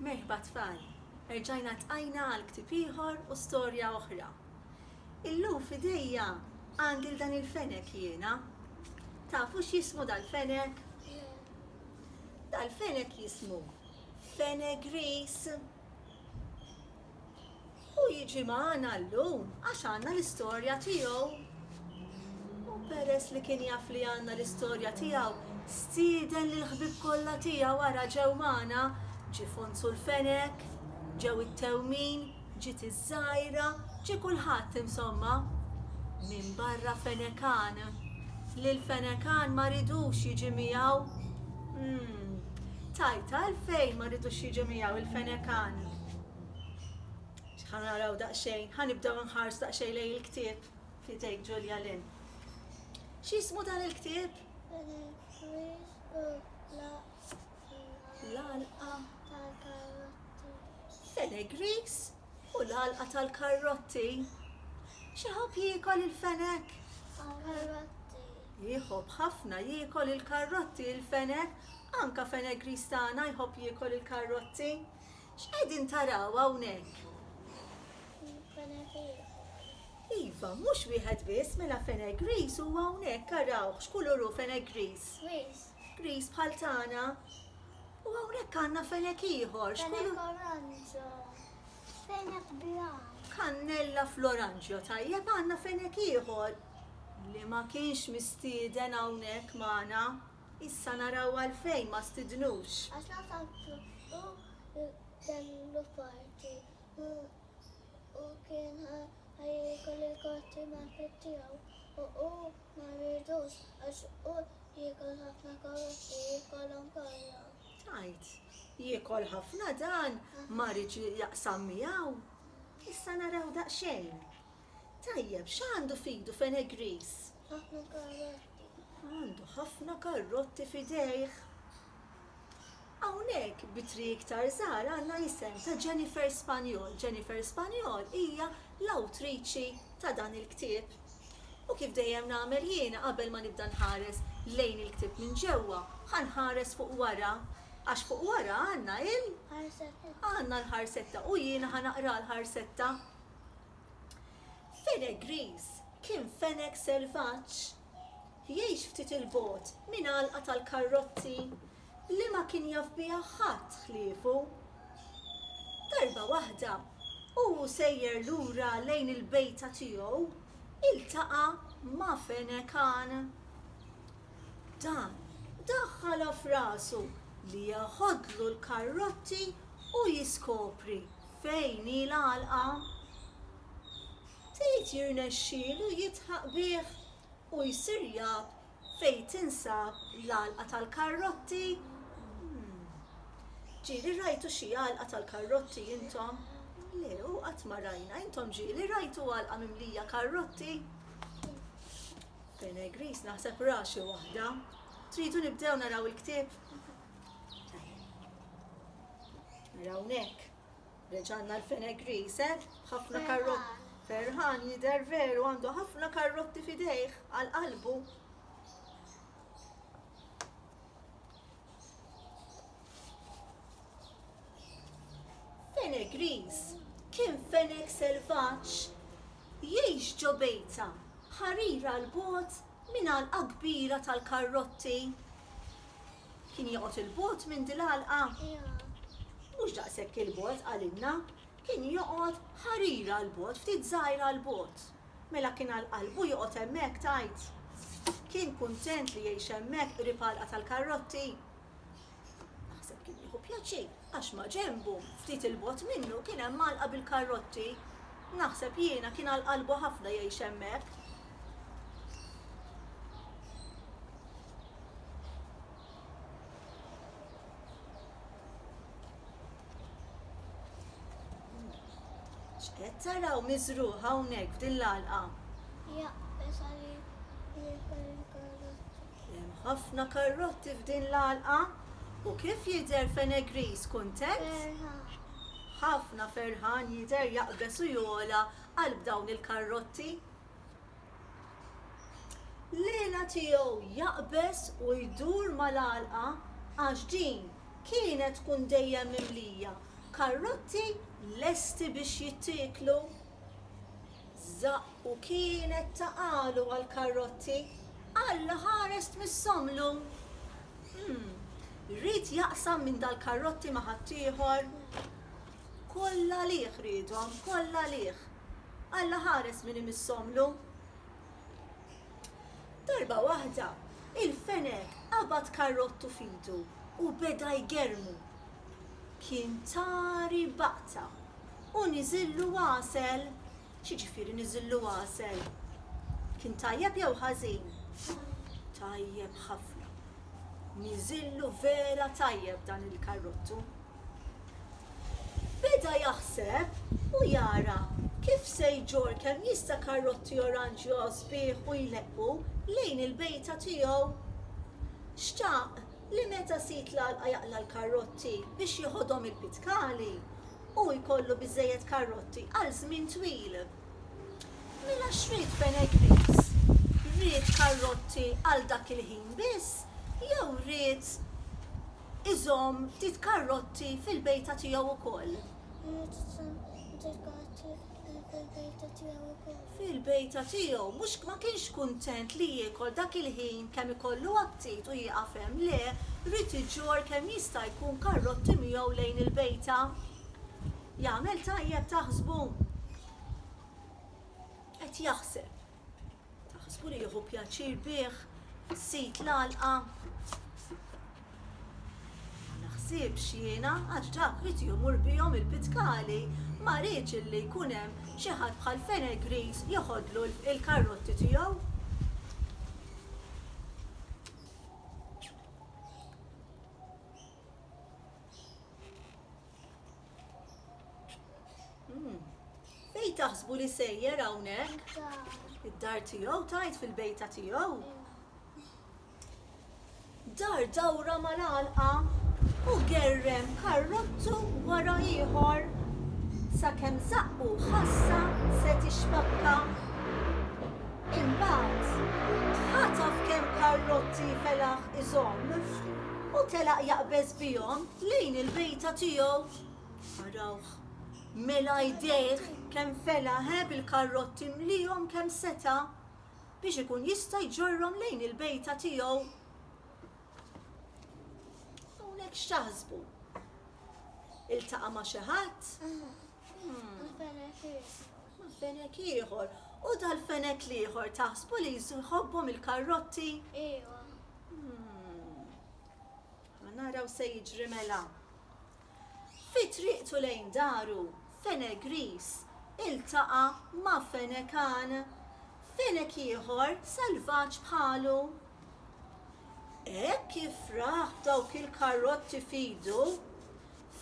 Merħba tfal! Erġajna tqajna għal ktieb ieħor u storja oħra. Illum f'idejja għandi 'l dan il-fenek jiena. Tafu x'jismu dal-fenek? Dal-fenek jismu fenegris. Hu jiġi magħna llum għax għandna l-istorja tiegħu. U peress li kien jaf li għandna l-istorja tiegħu, stieden lill-ħbieb kollha tiegħu ara ġew magħna, ġie Fonzu l-Fenek, ġew it-Tewmin, ġiet iż-Żgħira, ġie kulħadd insomma. Minbarra Fenekan. Lil Fenekan ma ridux jiġi miegħu. Umm. Tgħid għalfejn ma ridux jiġu miegħu il-Fenekani? Ħa naraw daqsxejn, ħa nibdew nħarsu daqsxejn lejn il-ktieb f'idejk Ġulja Lin. X'ismu dan il-ktieb? L-alqa. Fenegris U l-għalqa tal-karrotti? Xi ħobb jiekol il-fenek? Karrotti. Jħobb ħafna jiekol il-karrotti il-fenek, anka fenek gris tagħna jħobb jiekol il-karrotti. X'qegħdin taraw hawnhekk? Iva, mhux wieħed biss, mela fenek gris huwa hawnhekk, arawh, x'kulur hu fenek gris? Gris. Gris bħal tagħna, u hawnhekk għandna fenek ieħor, x'kulur? Fenek oranġjo, fenek bla. Kannella fl-oranġjo, tajjeb għandna fenek ieħor li ma kienx mistieden hawnhekk magħna. Issa naraw għalfejn ma stidnux. Għax l-għasafar hu kellu parti u kien ħa jiekol il-kotti mal-ħbieb tiegħu u hu Ma rridux għax hu jiekol ħafna karotti, jiekol anke l-għalaq. Tgħid, Jiekol ħafna dan, ma rridx jaqsam miegħu. Issa naraw daqsxejn. Tajjeb, x'għandu f'idu Fenegris? Ħafna karotti. Għandu ħafna karotti f'idejh. Hawnhekk b'ittri iktar żgħar għandna l-isem ta' Jennifer Spagnol. Jennifer Spagnol hija l-awtriċi ta' dan il-ktieb. U kif dejjem nagħmel jiena qabel ma nibda nħares lejn il-ktieb minn ġewwa, ħa nħares fuq wara għax fuq wara għandna il. Ħarsetta. Għandna l-ħarsetta u jiena ħa naqra l-ħarsetta. Fenegriż kien feneg selvaġġ. Jgħix ftit 'il bogħod minn għalqa tal-karrozzi li ma kien jaf biha ħadd ħliefu. Darba waħda, u hu sejjer lura lejn il-bejta tiegħu, iltaqa' ma' fenekan. Dan daħħalha f'rasu li jeħodlu l-karrotti u jiskopri fejn hi l-għalqa. Ftit jirnexxielu jidħaq bih u jsir jaf fejn tinsab l-għalqa tal-karrotti? Umm. Ġieli rajtu xi għalqa tal-karrotti intom? Le, u qatt ma rajna. Intom ġieli rajtu għalqa mimlija karrotti? Bene Gris naħseb ra xi waħda. Tridu nibdew naraw il-ktieb? Tajjeb. Naraw hawnhekk. Reġanna l-Fenegrise b'ħafna karrotti. Ferħan jidher veru għandu ħafna karrotti f'idejh għal qalbu. Fenegris kien fenek selvaġġ jgħix ġo bejta ħarira l bogħod minn għalqa kbira tal-karrotti. Kien joqgħod 'il bogħod minn dil-għalqa? Mhux daqshekk 'il bogħod qalilna, kien joqgħod ħarira 'l bogħod, ftit żgħira 'l bogħod. Mela kien għal qalbu joqgħod hemmhekk tgħid? Kien kuntent li jgħix hemmhekk qrib għalqa tal-karrotti? Naħseb kien jieħu pjaċir għax maġenbu, ftit 'il bogħod minnu kien hemm għalqa bil-karrotti. Naħseb jiena kien għal qalbu ħafna jgħix hemmhekk. X'qed taraw miżrugħ hawnhekk f'din l-għalqa? Jaqbeż għalik jieħu l-karrotti. Hemm ħafna karrotti f'din l-għalqa u kif jidher Fenegris kuntent? Ferħan. Ħafna ferħan jidher jaqbeż u jogħla qalb dawn il-karrotti. L-għela tiegħu jaqbeż u jdur mal-għalqa għax din kienet tkun dejjem mimlija karrotti lesti biex jittieklu. Żaqq u kienet ta' qalu għall-karrotti, Alla ħarest mis-somlu! Hm, ried jaqsam minn dal-karrotti ma' ħaddieħor? Kollha għalih riedhom, kollha għalih! Alla ħares min imissomlu. Darba waħda, il-fenek qabad karrottu f'idu u beda jgerrmu. Kien tari baqta u niżillu għasel. X'jiġifieri niżillu għasel? Kien tajjeb jew ħażin? Tajjeb ħafna. Niżillu vera tajjeb dan il-karrottu. Beda jaħseb u jara kif se jġorr kemm jista' karrotti oranġjo sbieħ u jleqqu lejn il-bejta tiegħu. Xtaq li meta sid l-għalqa jaqla' l-karrotti biex jeħodhom il-pitkali, hu jkollu biżżejjed karrotti għal żmien twil. Mela x'ried Benegriz? Ried karrotti għal dak il-ħin biss jew ried. iżomm ftit karrotti fil-bejta tiegħu wkoll. Irid iżomm ftit karrotti fil-bejta tiegħu wkoll. Fil-bejta tiegħu, mhux ma kienx kuntent li jiekol dak il-ħin kemm ikollu aptit u jieqaf hemm, le, ried iġorr kemm jista' jkun karrotti miegħu lejn il-bejta. Jagħmel tajjeb taħsbu? Qed jaħseb. Naħsbu li jieħu pjaċir bih fis-sit l-għalqa. Ma naħsibx jiena għax dak li jmur bihom il-pitkali ma rridx illi jkun hemm xi ħadd bħal Fenel Griż joħodlu l-karrotti tiegħu. Hmm. Fejn taħsbu li sejjer hawnhekk? Id-dar tiegħu tajt fil-bejta tiegħu. Dar dawra mal-għalqa u gerrem karrottu wara ieħor sakemm zaqqu ħassa se tixfakka. Imbagħad ħataf kemm karrotti felaħ iżomm u telaq jaqbeż bihom Lejn il-bejta tiegħu. Arawh! Mela jdejh kemm fela, he, bil-karrotti mliehom kemm seta', biex ikun jista' jġorrhom lejn il-bejta tiegħu. Hawnhekk x'taħsbu? Iltaqa' ma' xi ħadd? Ma' fenek ieħor. U dal-fenek l-ieħor taħsbu li jħobbhom il-karrotti? Iva. Ma naraw se jiġri mela. Fi triqtu lejn daru, Fene Griż iltaqa' ma' Fene Kan, fenek ieħor salvaġġ bħalu. Hekk kif rah b'dawk il-karrotti f'idu,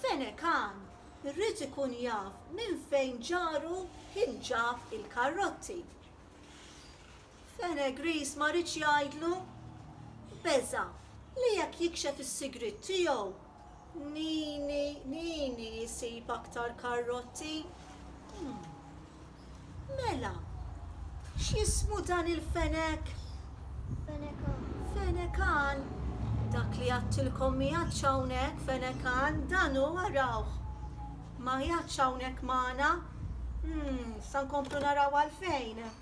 Fene Kan ried ikun jaf minn fejn ġaru kien ġab il-karrotti. Fenech Ries ma riedx jgħidlu. Beża' li jekk jikxef is-sigriet tiegħu, Nini, Nini jsib aktar karrotti. Umm. Mela, x'jismu dan il-fenek? Fenech Ann. Fenech Ann. Dak li għadtilkom m'qiegħedx hawnhekk, Fenech Ann. Dan hu, arawh. Ma qiegħedx hawnhekk magħna. Umm, sa nkomplu naraw għalfejn.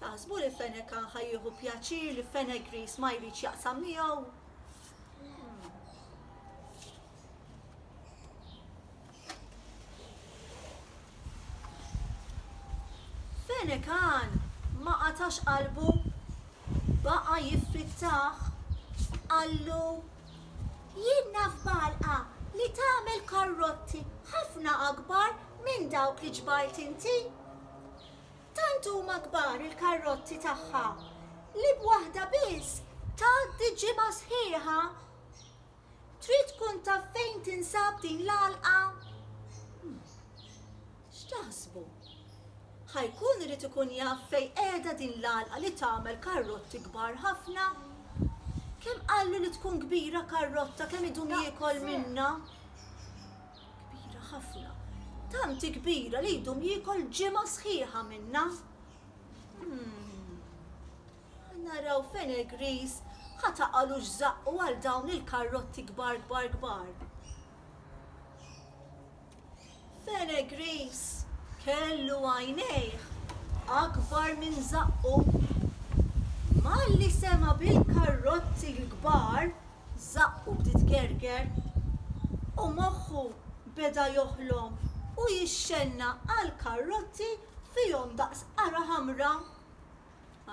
Taħsbu li Fenech kan ħa jieħu pjaċir li Fenech Gris ma jridx jaqsam miegħu? Fenech kan ma qatax qalbu baqa jiffittaħ qallu jien naf balqa li tagħmel karrotti ħafna akbar minn dawk li ġbart inti. Tant huma kbar il-karrotti tagħha li b'waħda biss tgħaddi ġimgħa sħiħa. Trid tkun taf fejn tinsab din l-għalqa? X'taħsbu? Ħa jkun irid ikun jaf fejn qiegħda din l-għalqa li tagħmel karrotti kbar ħafna? Kemm qallu li tkun kbira karrotta kemm idum jiekol minnha? Kbira ħafna. Tant kbira li jdum jiekol ġimgħa sħiħa minnha. Ħa naraw fejn il-griż ħa taqalu x'żaqqu għal dawn il-karrotti kbar kbar kbar. Fejn il-griż kellu għajnejh akbar minn żaqqu. Malli sema' bil-karrotti l-kbar, żaqqu bdiet gerger u moħħu beda joħlom u jixxenna għal karrotti fihom daqs qara ħamra.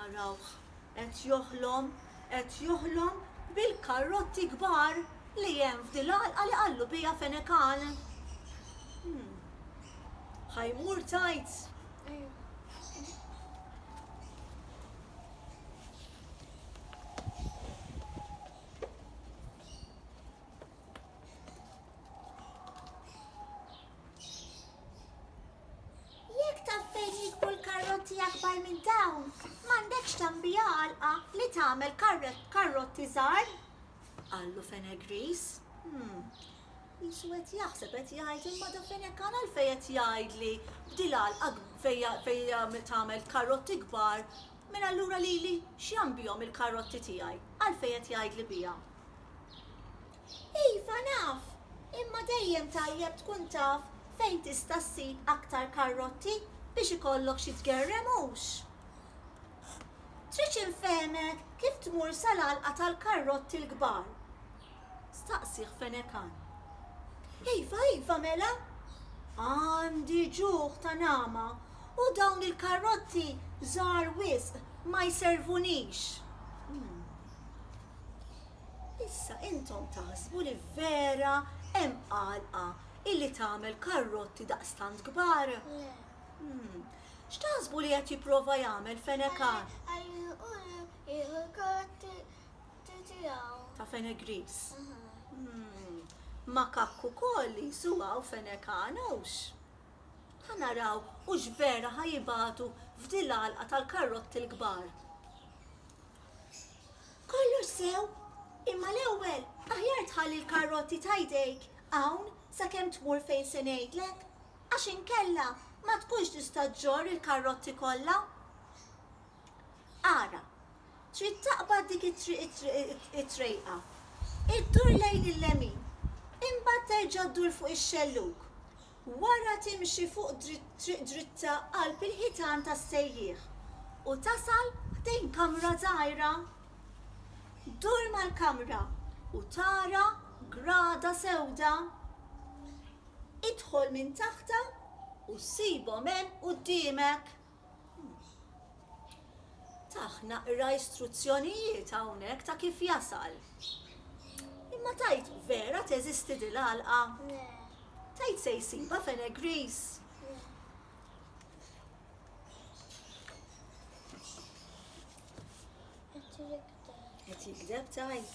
Arawh qed joħlom, qed joħlom bil-karrotti kbar li hemm f'dil-għalqa li qallu biha Fenekan. Hm, ħa jmur tgħid? Jekk taf fejn jikbru l-karrotti akbar minn dawn, m'għandekx tambija għalqa li tagħmel karrotti żgħar? qallu Fenegris. Hmm, qisu qed jaħseb qed jgħid imma da Fenek għal fejn qed jgħidli b'dil għalqa fejn tagħmel karrotti kbar Mela allura lili x'jagħm bihom il-karrotti tiegħi? Għalfejn qed jgħidli biha? Iva naf, imma dejjem tajjeb tkun taf fejn tista' ssib aktar karrotti biex ikollok xi tgerrem hux? Tridx infehmek kif tmur sal-għalqa tal-karrotti l-kbar? staqsieh Fenekan. Iva, iva, mela! Għandi ġuħ ta' nagħma u dawn il-karrozzi żgħar wisq ma jservunix. Issa intom taħsbu li vera hemm għalqa illi tagħmel karrotti daqstant kbar? Le. X'taħsbu li qed jipprova jagħmel Fenekan? Qed iħalli hu jieħu l-karrotti Ta' fenek griż. Makakk ukoll li jsu hawn fenek għan hux. Ħa naraw hux vera ħa jibagħtu f'di l-għalqa tal-karrotti l-kbar. Kollox sew, imma l-ewwel aħjar tħalli l-karrotti ta' jdejk hawn sakemm tmur fejn se ngħidlek, għax inkella ma tkunx tista' ġġorr il-karrotti kollha. Ara, trid taqbad dik it-triq-it-triq-it-trejqa, iddur lejn il-lemin, imbagħad terġa' ddur fuq ix-xellug, wara timxi fuq triq dritta qalb il-ħitan tas-sejjieħ u tasal ħdejn kamra żgħira. Ddur mal-kamra u tara grada sewda. Idħol minn taħtha u ssibhom hemm quddiemek. Tah naqra istruzzjonijiet hawnhekk ta' kif jasal. Imma tgħid vera teżisti di l-għalqa? Le. Tgħid se jsibha f'Enegris? Le. Qed jikdeb tgħid?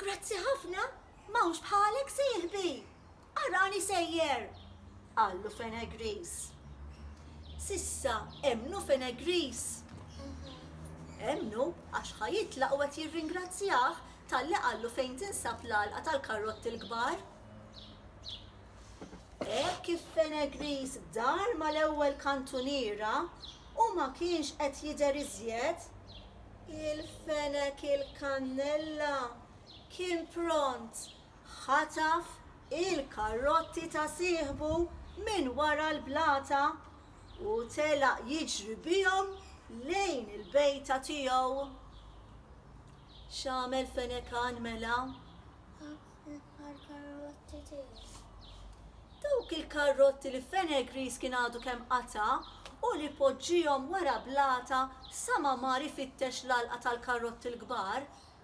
Grazzi ħafna, m'hawnx bħalek sieħbi! Arani sejjer! qallu Fenegris. S'issa emmnu Fenegris? Emmnu għax ħa jitlaq u qed jirringrazzjah talli qallu fejn tinsab l-għalqa tal-karrotti l-kbar. Hekk kif Fenegris dar mal-ewwel kantuniera u ma kienx qed jidher iżjed, il-fenek il-kannella kien pront ħataf il-karrotti ta' sieħbu minn wara l-blata u telaq jiġri bihom lejn il-bejta tiegħu. X'għamel Fenekan mela? L-karrotti tiegħu. Dawk il-karrotti li Fenegris kien għadu kemm qata' u li poġġihom wara blata sa ma mar ifittex l-għalqa tal-karrotti l-kbar,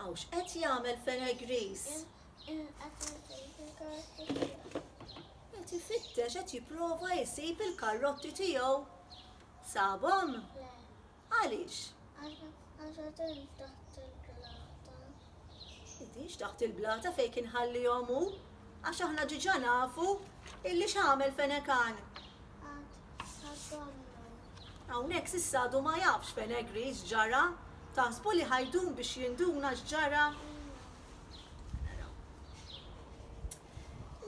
Aw x'qed jagħmel Fenegris? Qed ifittex qed jipprova jsib il-karrotti tiegħu. Sabhom? Għaliex? Idix taħt il-blata fejn kien ħallihom hu, għax aħna ġiġa nafu illi x'għamel fenekan. Hawnhekk s'issa għadu ma jafx Penegri x'ġara. Taħsbu li ħa jdum biex jinduna x'ġara? Naraw.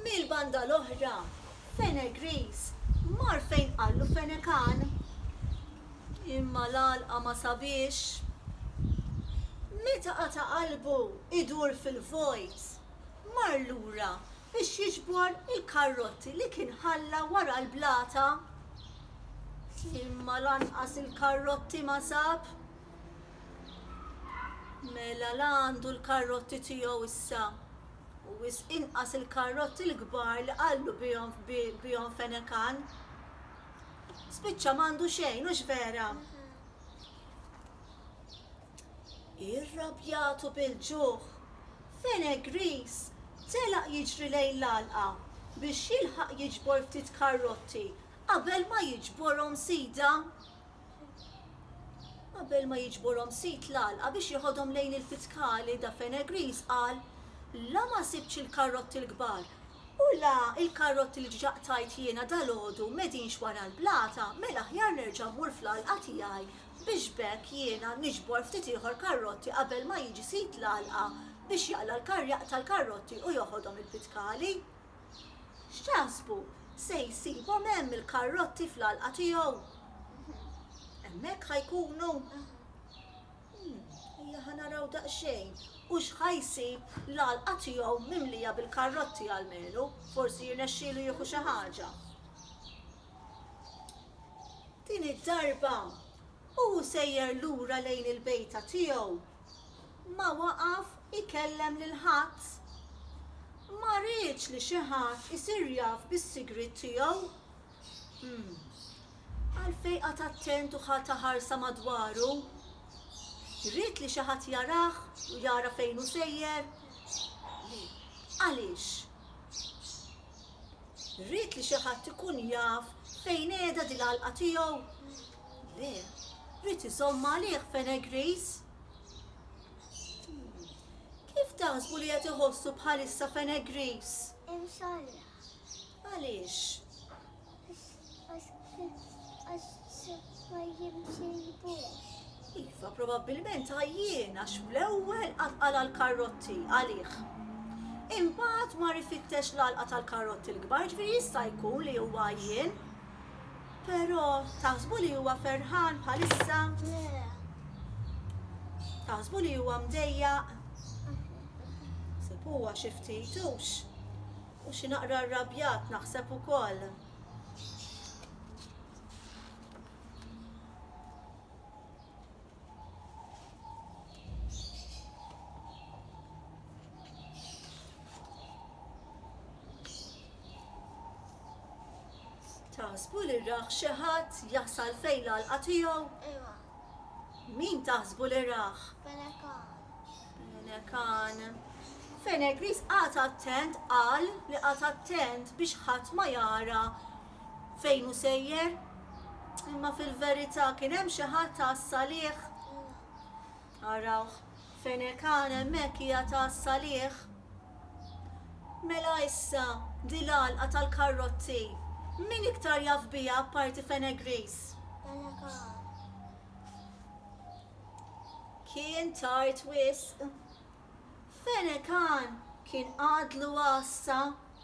Mill-banda l-oħra, Penegris mar fejn qallu Fenekan. Imma l-għalqa ma sabiex. Meta qata' qalbu jdur fil-vojt, mar lura biex jiġbor il-karrotti li kien ħalla wara l-blata, imma lanqas il-karrotti ma sab. Mela la għandu l-karrotti tiegħu issa, u wisq inqas il-karrotti l-kbar li qallu bihom fenekan. Spiċċa m'għandu xejn, hux vera? Irrabjat u bil-ġuħ, Fene Gris telaq jiġri lejn l-għalqa biex jilħaq jiġbor ftit karrotti qabel ma jiġborhom sidha. Qabel ma jiġborhom sid l-għalqa biex jeħodhom lejn il-Fitkali da Fene Gris qal, La ma sibtx il-karrotti l-kbar u la l-karrotti li diġà qtajt jiena dalgħodu m'qegħdinx wara l-blata, mela aħjar nerġa' mmur fl-għalqa tiegħi biex b'hekk jiena niġbor ftit ieħor karrotti qabel ma jiġi sid l-għalqa biex jaqla' l-karr jaqta' l-karrotti u joħodhom il-pitkali. X'taħsbu, se jsibhom hemm il-karrotti fl-għalqa tiegħu? Hemmhekk ħa jkunu? Umm, ejja ħa naraw daqsxejn, hux ħa jsib l-għalqa tiegħu mimlija bil-karrotti almenu, forsi jirnexxielu jieħu xi ħaġa. Din id-darba, u hu sejjer lura lejn il-bejta tiegħu, ma waqaf ikellem lil ħadd. Ma riedx li xi ħadd isir jaf bis-sigriet tiegħu. Hm, għalfejn qagħad attent u ħa ta' ħarsa madwaru? Ried li xi ħadd jarah u jara fejn hu sejjer? Le. Għaliex? Rrid li xi ħadd ikun jaf fejn qiegħda dil-għalqa tiegħu? Le, rrid iżomm għalih Fenegris. Kif taħsbu li qed iħossu bħalissa Fenegris? Imxorra. Għaliex? Iva, probabbilment għajjien għax fl-ewwel għatqala l-karrotti għalih. Imbagħad mar ifittex l-għalqa tal-karrotti l-kbar, ġifieri jista' jkun li huwa għajjien. Però taħsbu li huwa ferħan bħalissa? Le. Taħsbu li huwa mdejjaq? Sepuha xi ftit hux. U xi naqra rrabjat naħseb ukoll. Taħsbu li rah xi ħadd jasal fejn l-għalqa tiegħu? Iva. Min taħsbu li rah? Pelekan. Nekan. Fenegris qagħad attent qal li qagħad attent biex ħadd ma jara fejn hu sejjer. Imma fil-verità kien hemm xi ħadd ta' salih. Araw, fenekan hemmhekk hija ta' salih. Mela issa dil-għalqa tal-karrotti. Min iktar jaf biha apparti Fenegris? Fenekan. Kien tard wisq. Fenekan kien għadlu għassa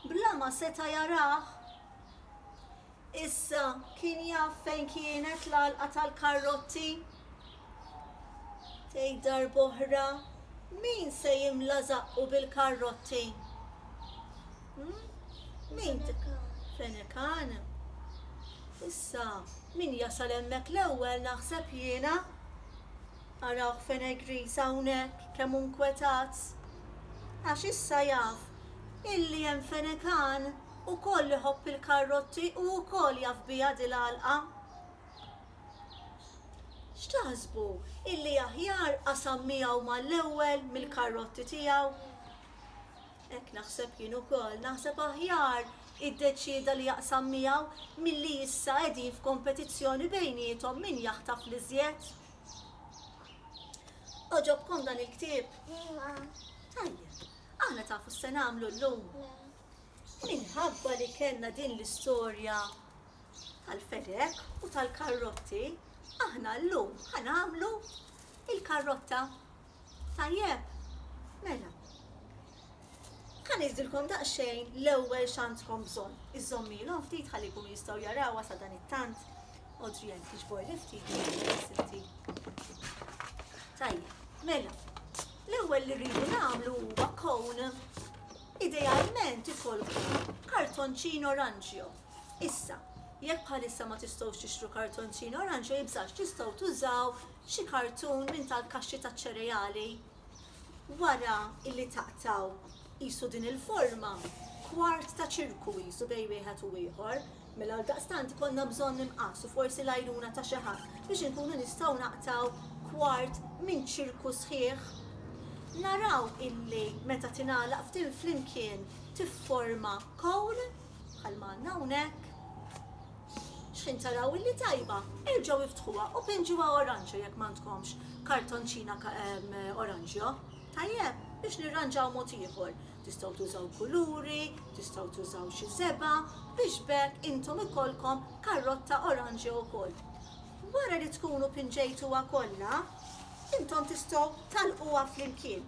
bla ma seta' jarah. Issa kien jaf fejn kienet l-għalqa tal-karrotti. Tgħid darb'oħra min se jimla żaqqu bil-karrotti? Fenekan. Issa, min jasal hemmhekk l-ewwel naħseb jiena? Arawh Fenegris hawnhekk kemm hu nkwetat. Għax issa jaf illi hemm Fenekan ukoll iħobb il-karrotti u wkoll jaf biha di l-għalqa. X'taħsbu illi aħjar qasam miegħu mal-ewwel mill-karrotti tiegħu? Hekk naħseb jien ukoll. Naħseb aħjar iddeċieda li jaqsam miegħu milli issa qegħdin f'kompetizzjoni bejniethom min jaħtaf l-iżjed. Għoġobkom dan il-ktieb? Iva. Tajjeb. Aħna tafu se nagħmlu llum? Le. Minħabba li kellna din l-istorja tal-fedek u tal-karrotti, aħna llum ħanamlu il-karrotta. Tajjeb, mela. Ħa ngħidilkom daqsxejn l-ewwel x'għandkom bżonn. Iżżommilhom ftit ħalli jkunu jistgħu jarawha sa dan it-tant. Odrijan tiġbor li ftit. Tajjeb, mela. L-ewwel li rridu nagħmlu huwa kown idealment ikolkom kartonċin oranġjo. Issa, jekk bħalissa ma tistgħux tixtru kartonċin oranġjo jibżax tistgħu tużaw Xi kartun minn tal-kaxxi taċ-ċereali. Wara illi taqtgħu qisu din il-forma, kwart ta' ċirku qisu bejn wieħed u ieħor, mela għaldaqstant ikollna bżonn imqass u forsi l-għajnuna ta' xi ħadd biex inkunu nistgħu naqtgħu kwart minn ċirku sħiħ. Naraw illi meta tingħalaq f'din flimkien tifforma kown, bħalma għandna hawnhekk. Xħin taraw illi tajba, erġgħu iftħuha u pinġuha oranġjo jekk m'għandkomx kartonċina oranġjo. Tajjeb? Biex nirranġaw mod ieħor. Tistgħu tużaw kuluri, tistgħu tużaw xi żebgħa biex b'hekk intom ikollkom karrotta oranġjo wkoll. Wara li tkunu pinġejtuha kollha, intom tistgħu tagħlquha flimkien.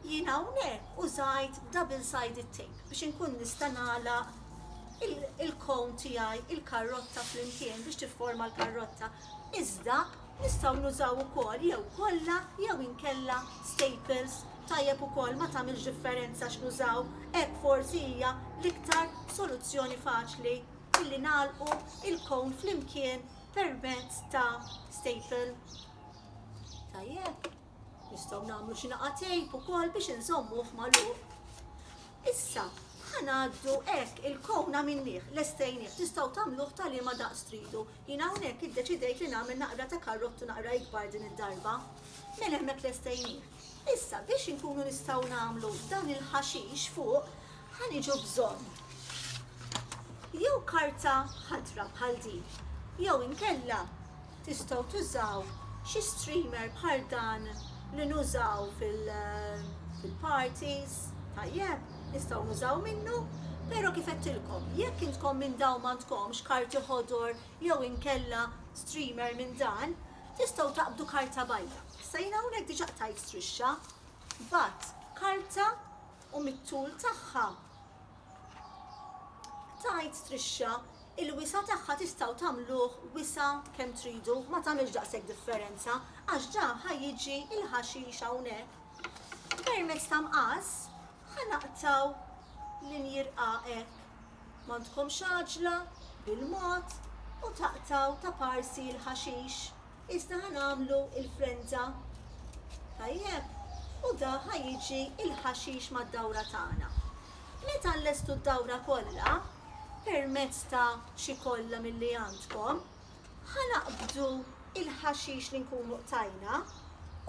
Jien hawnhekk użajt double sided tape biex inkun nista' nagħlaq il-cone tiegħi, il-karrotta flimkien biex tifforma l-karrotta. Iżda nistgħu nużaw ukoll jew kollha jew inkella staples, tajjeb ukoll ma tagħmilx differenza x'nużaw, hekk forsi hija l-iktar soluzzjoni faċli illi nagħlqu il-cone flimkien permezz ta' staple. Tajjeb. Nistgħu nagħmlu xi naqa' tejp ukoll biex inżommuh magħluq. Issa, ħanaddu hekk il-kown għamilnieh, lestejnieh, tistgħu tagħmluh ta' liema daqs tridu. Jien hawnhekk iddeċidejt li nagħmel naqra ta' karrottu naqra ikbar din id-darba. Mela hemmhekk lestejnieh. Issa biex inkunu nistgħu nagħmlu dan il-ħaxix fuq, Ħa niġu bżonn jew karta ħadra bħal din, jew inkella tistgħu tużaw xi streamer bħal dan li nużaw fil-parties, tajjeb, nistgħu nużaw minnu, pero kif għedtilkom, jekk intkom minn dawn m'għandkomx karti ħodor jew inkella streamer minn dan, tistgħu taqbdu karta bajda. Issa jien hawnhekk diġà qtajt strixxa, b'għadd karta u mit-tul tagħha. Tgħid Trisha, Il-wisa' tagħha tistgħu tagħmluh wisa' kemm tridu, ma tagħmilx daqshekk differenza għax ġa ħa jiġi l-ħaxix hawnhekk. Permezz ta' mqas ħa naqtgħu linji rqaq hekk. M'għandkomx għaġla, bil-mod, u taqtgħu ta' parsi l-ħaxix. Iżda ħa nagħmlu l-frenza. Tajjeb, u da ħa jiġi l-ħaxix mad-dawra tagħna. Meta llestu d-dawra kollha, permezz ta' xi kollha milli għandkom, ħa naqbdu l-ħaxix li nkunu qtajna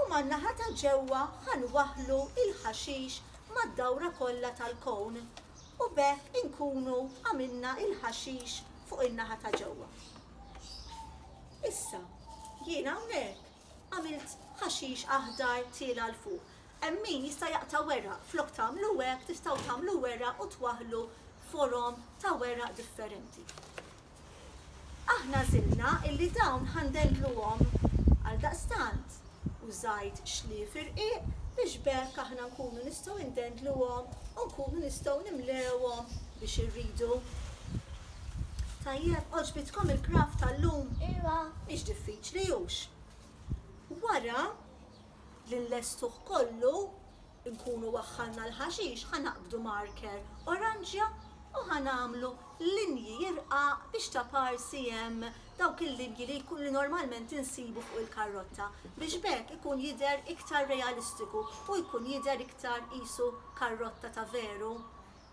u man-naħa ta' ġewwa ħa nwaħħlu l-ħaxix mad-dawra kollha tal-kown u b'hekk inkunu għamilna l-ħaxix fuq in-naħa ta' ġewwa. Issa, jien hawnhekk għamilt ħaxix aħdar tiela' 'l fuq. Hemm min jista' jaqta' weraq, flok tagħmlu hekk tistgħu tagħmlu weraq u twaħħlu forom ta' weraq differenti. Aħna għażilna illi dawn ħa ndendluhom għaldaqstant u żgħid xlief irqiq biex b'hekk aħna nkunu nistgħu indendluhom u nkunu nistgħu nimlewhom biex irridu. Tajjeb, għoġbitkom il-kraft tal-lum? Iva. Mhix diffiċli, hux? Wara li nlestuh kollu, Inkunu waħħalna l-ħaxix ħa naqbdu marker oranġja u ħa nagħmlu linji irqaq biex ta' parsi hemm dawk il-linji li li normalment insibu fuq il-karrotta biex b'hekk ikun jidher iktar realistiku u jkun jidher iktar qisu karrotta ta' veru.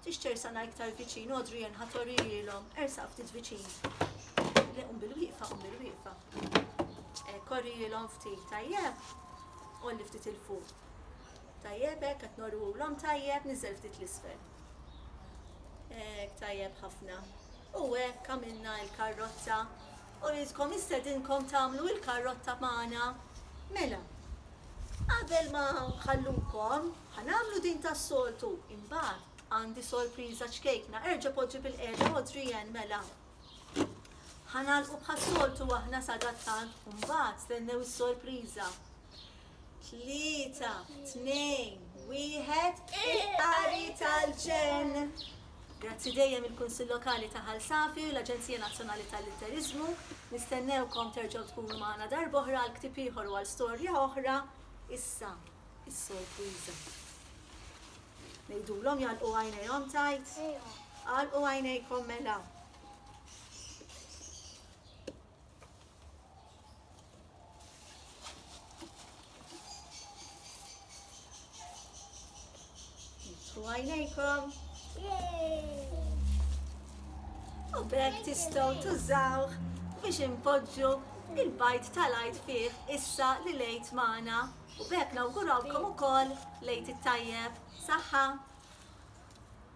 Tix tersana iktar viċin Adrian ħa torihilhom. Ersaq ftit viċin. Le qum bil-wieqfa qum bil-wieqfa. Hekk orihilhom ftit tajjeb. Għolli ftit 'il fuq. Tajjeb hekk qed norwulhom tajjeb, niżel ftit l-isfel. Hekk tajjeb ħafna. U hekk għamilna l-karrotta. U jidkom istedinkom tagħmlu l-karrotta magħna. Mela, qabel ma nħallukom, ħanamlu din tas-soltu, imbagħad għandi sorpriża ċkejkna, erġa' poġġi bil-qeda Adrian mela. Ħanalqu bħas-soltu aħna sadattant, imbagħad stennew is-sorpriża. Tlieta, tnejn, wieħed, il-qari tal-ġen. Grazzi dejjem il-Kunsill Lokali ta' Ħal Safi u l-Aġenzija Nazzjonali tal-Litteriżmu. Nistennewkom terġgħu tkunu magħna darb'oħra għal ktieb ieħor u għal storja oħra. Issa, is-sorpriża. Ngħidulhom jagħlqu għajnejhom tajt? Għalqu għajnejkom mela. Nitfu għajnejkom. U bekk tistgħu tużawh biex impoġġu il-bajt tal-għajt fih issa li lejt magħna. U bekk nawgurawkom ukoll lejt it-tajjeb. Saħħa!